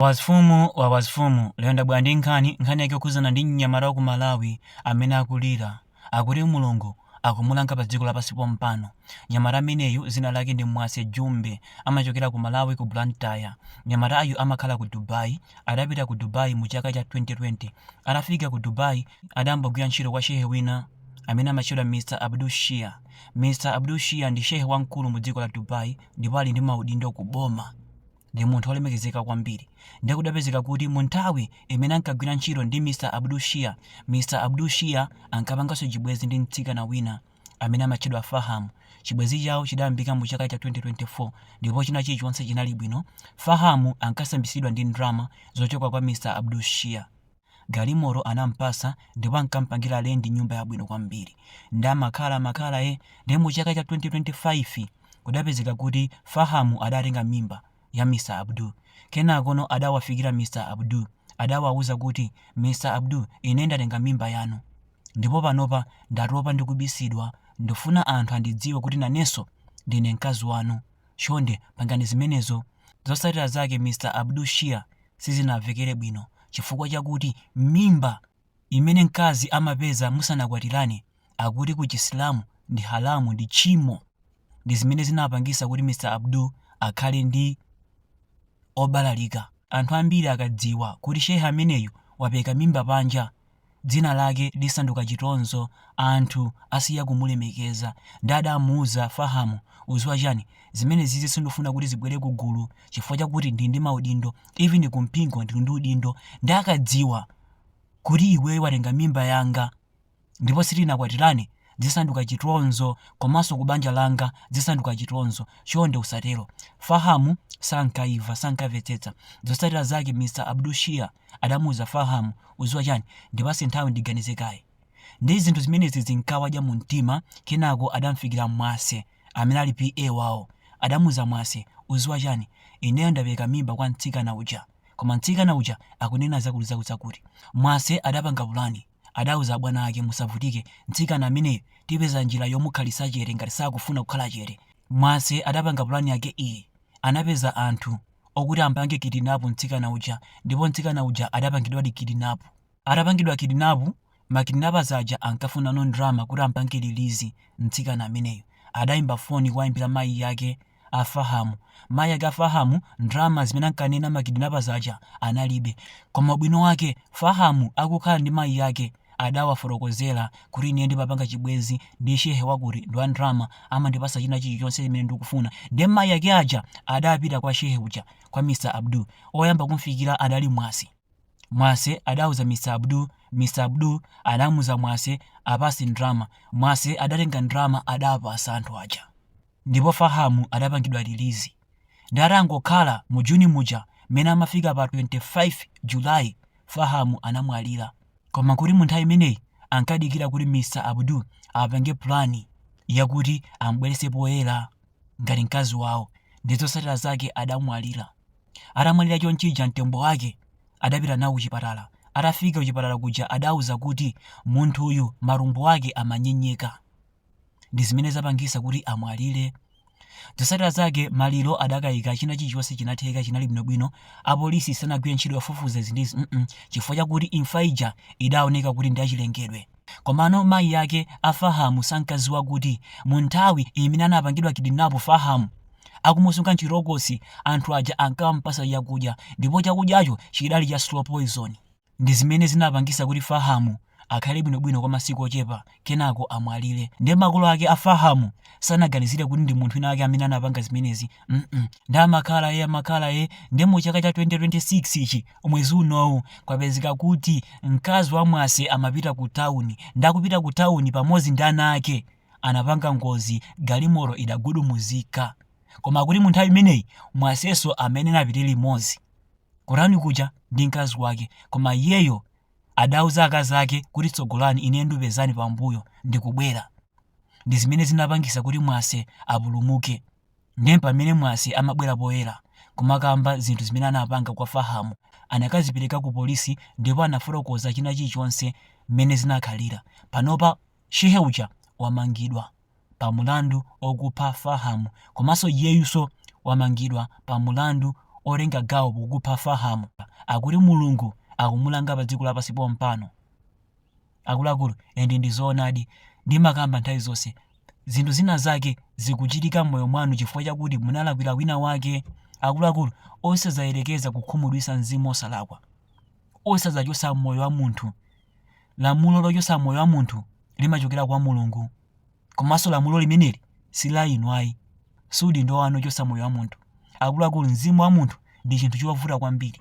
Wazifumu wazifumu lero ndabwera ndi nkhani, nkhani yake yokhudzana ndi mnyamata wa ku Malawi amene akulira, akuti Mulungu akumulanga pa dziko lapansi pompano. Mnyamata ameneyu dzina lake ndi Mwase Jumbe, amachokera ku Malawi ku Blantyre. Mnyamatayu amakhala ku Dubai, adapita ku Dubai mu chaka cha 2020. Atafika ku Dubai adayambogwira ntchito kwa Shehe wina amene amatchedwa Mr Abdul Shia. Mr Abdul Shia ndi Shehe wamkulu mu dziko la Dubai ndipo ali ndi maudindo ku boma. ndi munthu olemekezeka kwambiri ndiye kudapezeka kuti mu nthawi imene ankagwira ntchito ndi mr abdul shia mr abdul shia ankapanganso chibwenzi ndi mtsikana wina amene amatchedwa faham chibwenzi chawo chidayambika mu chaka cha 2024 ndipo china chilichonse chinali bwino fahamu ankasambitsidwa ndi ndrama zochoka kwa mr abdul shia Galimoto anampasa ndipo ankampangila rent nyumba yabwino kwambiri nde amakhala amakhala eh nde mu chaka cha 2025 kudapezeka kuti Faham adatenga mimba ya Mr Abdul kenakono adawafikila Mr Abdul adawauza kuti Mr Abdul ine ndatenga mimba yanu ndipo panopa ndatopa ndikubisidwa ndifuna anthu andidziwe kuti nanenso ndine mkazi wanu Chonde pangani zimenezo. Zotsatira zake Mr Abdul Shia sizinamvekele bwino chifukwa chakuti mimba imene mkazi amapeza musanakwatirane akuti ku Chisilamu ndi haramu, ndi tchimo, ndi zimene zinapangisa kuti Mr Abdul akhale ndi obalalika. Anthu ambiri akadziwa kuti Shehe ameneyu wapeka mimba panja dzina lake lisanduka chitonzo anthu asiya kumulemekeza ndi adamuuza Faham udziwa chani zimenezizi sindifuna kuti zibwere ku gulu chifukwa chakuti ndili ndi maudindo even ku mpingo ndili ndi udindo ndi akadziwa kuti iweyo watenga mimba yanga ndipo sitinakwatirane zisanduka chitonzo komanso kubanja langa zisanduka chitonzo chonde usatero fahamu sankaimva sankamvetsetsa zotsatira zake mr abdul shia adamuuza fahamu udziwa chani ndipatse nthawi ndiganize kaye ndi zinthu zimenezi zinkawadya mu mtima kenako adamfikira mwase amene ali PA wawo adamuuza mwase udziwa chani ineyo ndapereka mimba kwa mtsikana uja koma mtsikana uja akunena zakutizakuti mwase adapanga pulani adauza abwana ake, Musavutike, mtsikana ameneyo tipeza njira yomukhalitsa chete ngati sakufuna kukhala chete. Mwase adapanga pulani yake iyi, Anapeza anthu okuti ampange kidinapu mtsikana uja ndipo mtsikana uja adapangidwadi kidinapu. Atapangidwa kidinapu, ma kidnappers aja ankafunano ndrama kuti ampange release mtsikana ameneyo. Adaimba foni kuwaimbira mayi ake. a Faham. Mayi ake a Faham ndalama zimene ankanena ma kidnappers aja analibe. Koma ubwino wake, Faham akukhala ndi mayi ake adawafotokozera kuti ine ndimapanga chibwenzi ndi shehe wakuti ndi wa ndalama, amandipatsa china chilichonse chimene ndikufuna. Ndiye mayi ake aja adapita kwa shehe uja, kwa Mr. Abdul. Oyamba kumfikira adali Mwase. Mwase adauza Mr. Abdul, Mr. Abdul adamuuza Mwase apatse ndalama. Mwase adatenga ndalama adapatsa anthu aja. ndipo Faham adapangidwa release nde atangokhala mu June muja mmene amafika pa 25 July Faham anamwalira koma kuti mu nthawi imeneyi ankadikira kuti Mr Abdul apange plan yakuti ambwerese poyera ngati mkazi wawo ndi zotsatira zake adamwalira atamwalira chonchija mtembo wake adapita nawo kuchipatala atafika kuchipatala kuja adauza kuti munthuyu matumbo ake amanyenyeka ndi zimene zapangisa kuti amwalire. Zosatira zake maliro adakaika china chilichonse chinatheka chinali bwino bwino apolisi sanagwire ntchito yofufuza izi ndi izi mm chifukwa chakuti imfa ija idaoneka kuti ndi yachilengedwe. Komano mayi ake a Fahamu sankaziwa kuti mu nthawi imene anapangidwa kidinapu Fahamu akumusunga m'chitokosi anthu aja ankampasa chakudya ndipo chakudyacho chidali cha slow poison. Ndi zimene zinapangisa kuti Faham akhale bwino bwino kwa masiku ochepa kenako amwalire. Nde makolo ake a Faham sanaganizire kuti ndi munthu wina wake amene anapanga zimenezi mm nde amakhala ee amakhala ee nde mu chaka cha 2026 ichi mwezi unowu kwapezeka kuti mkazi wa Mwase amapita ku town nde akupita ku town pamodzi ndi ana ake anapanga ngozi galimoto idagudumuzika koma kuti mu nthawi imeneyi Mwaseso amayenera apite limodzi Ku town kuja ndi mkazi wake koma iyeyo adauza akazi ake kuti tsogolani ine ndupezani pambuyo ndikubwera ndi zimene zinapangisa kuti Mwase apulumuke ndiye pamene Mwase amabwera poyera kumakamba zinthu zimene anapanga kwa Faham anakazipereka ku polisi ndipo anafotokoza china chilichonse mmene zinakhalira panopa shehe uja wamangidwa. pa mulandu okupha Faham komanso iyeyuso wamangidwa pa mulandu otenga gawo pokupha Faham akuti mulungu akumulanga pa dziko lapansi pompano akuluakulu and ndizoonadi ndimakamba nthawi zonse zinthu zina zake zikuchitika mmoyo mwanu chifukwa chakuti munalakwira wina wake akuluakulu osazayerekeza kukhumudwisa mzimu osalakwa osazachotsa moyo wa munthu lamulo lochotsa moyo wa munthu limachokera kwa mulungu komanso lamulo limeneli si la inu ayi si udindo wanu ochotsa moyo wa munthu akuluakulu mzimu wa munthu ndi chinthu chovuta kwambiri